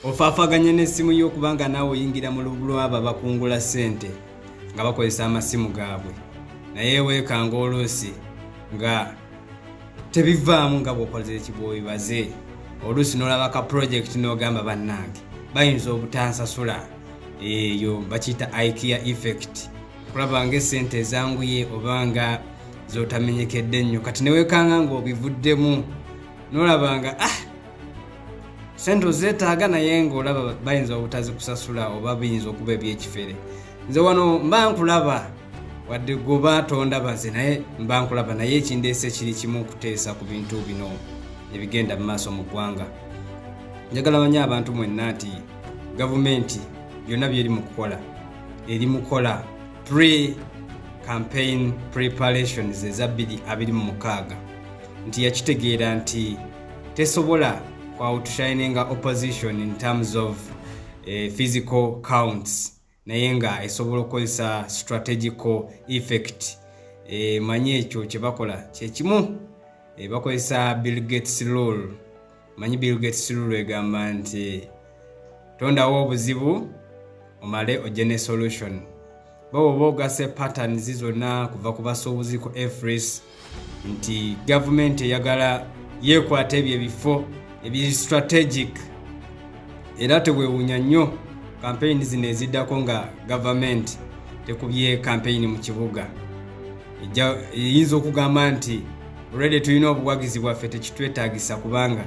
ofaafaganya n'essimu yo kubanga naawe oyingira mu lubu lw'abo abakungula ssente nga bakozesa amasimu gaabwe naye weekanga oluusi nga tebivaamu nga bw'okoze ekibwobibaze oluusi n'olaba ka pulojekiti n'ogamba bannange bayinza obutansasula eyo bakiyita ikea effect okulaba nga esente ezanguye oba nga zotamenyekedde nnyo kati newekanga ngaobivuddemu nolaba nga ah sente ozeetaaga naye ng'olaba bayinza obutazikusasula oba biyinza okuba ebyekifere nze wano mba nkulaba wadde goba tondabaze naye mba nkulaba naye ekindeese kiri kimu okuteesa ku bintu bino ebigenda mu maaso mu ggwanga njagala manye abantu mwenna nti gavumenti byonna byeri mu kukola eri mukola pre campaign preparations eza 2 26 nti yakitegeera nti tesobola ku outshininga opposition in terms of eh, physical counts naye nga esobola okukozesa strategical effect e, manyi ekyo kyebakola kyekimu e, bakozesa bill gates rule manyi bill gates rule egamba nti tondawo obuzibu omale ojje ne solution baba oba ogase patterns zonna kuva ku basuubuzi ku efris nti gavumenti eyagala yeekwata ebyo ebifo ebiri strategic era teweewunya nnyo kampeyini zino eziddako nga gavumenti tekubye kampeyini mu kibuga eyinza okugamba nti olwedde tulina obuwagizi bwaffe tekitwetaagisa kubanga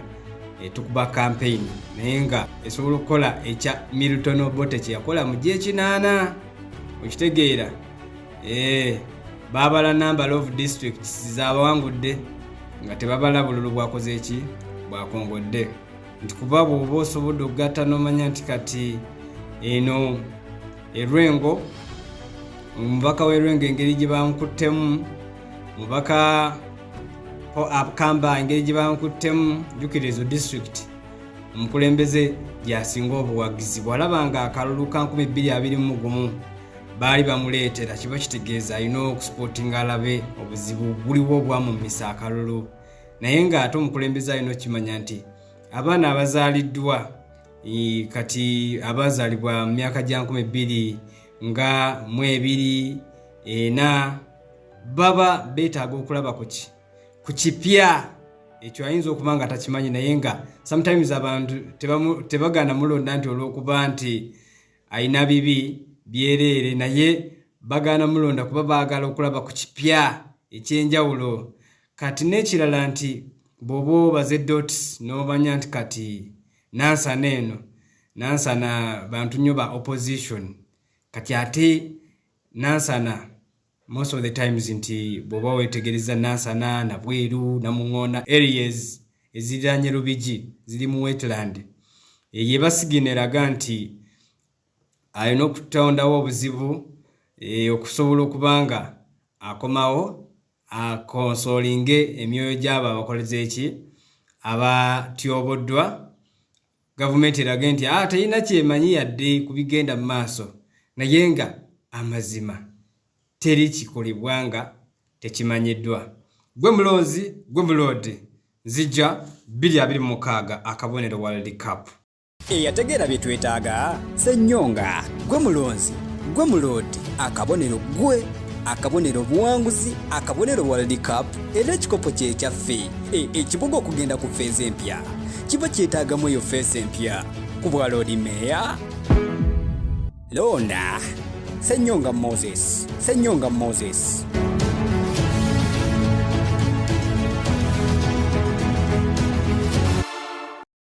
eh, tukuba campaign naye nga esobola okukola ekya milton obote kyeyakola mu gyekinaana okitegeera eh, baabala number of districts zabawangudde nga tebabala bululu bwakoze eki bwakongodde nti kuba bwoba osobodde okugatta nomanya nti kati eno erwengo omubaka w'erwengo engeri gye bamukuttemu mubaka ho abkamba engeri gye bankuttemu jukira ezo district omukulembeze gyasinga obuwagizi bwalaba nga akalulu ka 221 baali bamuleetera kiba kitegeeza alina okusipotinga alabe obuzibu buliwo obwamumisa akalulu naye ng'ate omukulembeze alina okukimanya nti abaana abazaaliddwa kati abaazaalibwa mu myaka gya 2 nga mu ebiri ena baba beetaaga okulaba kuki ku kipya ekyo ayinza okuba nga takimanyi naye nga sometimes abantu tebagana mulonda nti olwokuba nti ayina bibi byereere naye bagaana mulonda kuba baagala okulaba ku kipya ekyenjawulo kati n'ekirala nti bwoba obaze dots n'omanya nti kati nansana eno nansana bantu nnyo ba opposition kati ate Nansana most of the times nti bwoba wetegereza Nansana na Bweru na Mungona areas eziranye Lubigi ziri mu wetland eyo ebasigino eraga nti alina okutondawo obuzibu e, okusobola okuba nga akomawo akonsolinge emyoyo gy'abo abakoleza eki abatyoboddwa gavumenti erage nti ah, terina kyemanyi yadde ku bigenda mu maaso naye nga amazima teri kikolebwa nga tekimanyiddwa gwe mulonzi gwe muloodi nzija 226 akabonero world cup eyategeera bye twetaaga senyonga gwe mulonzi gwe muloodi akabonero gwe akabonero obuwanguzi akabonero world cup era ekikopo kyekyaffe e, ekibuga okugenda ku feeza empya kiba kyetaagamu eyo feesi empya ku bwa loodi meeya loona senyonga moses senyonga moses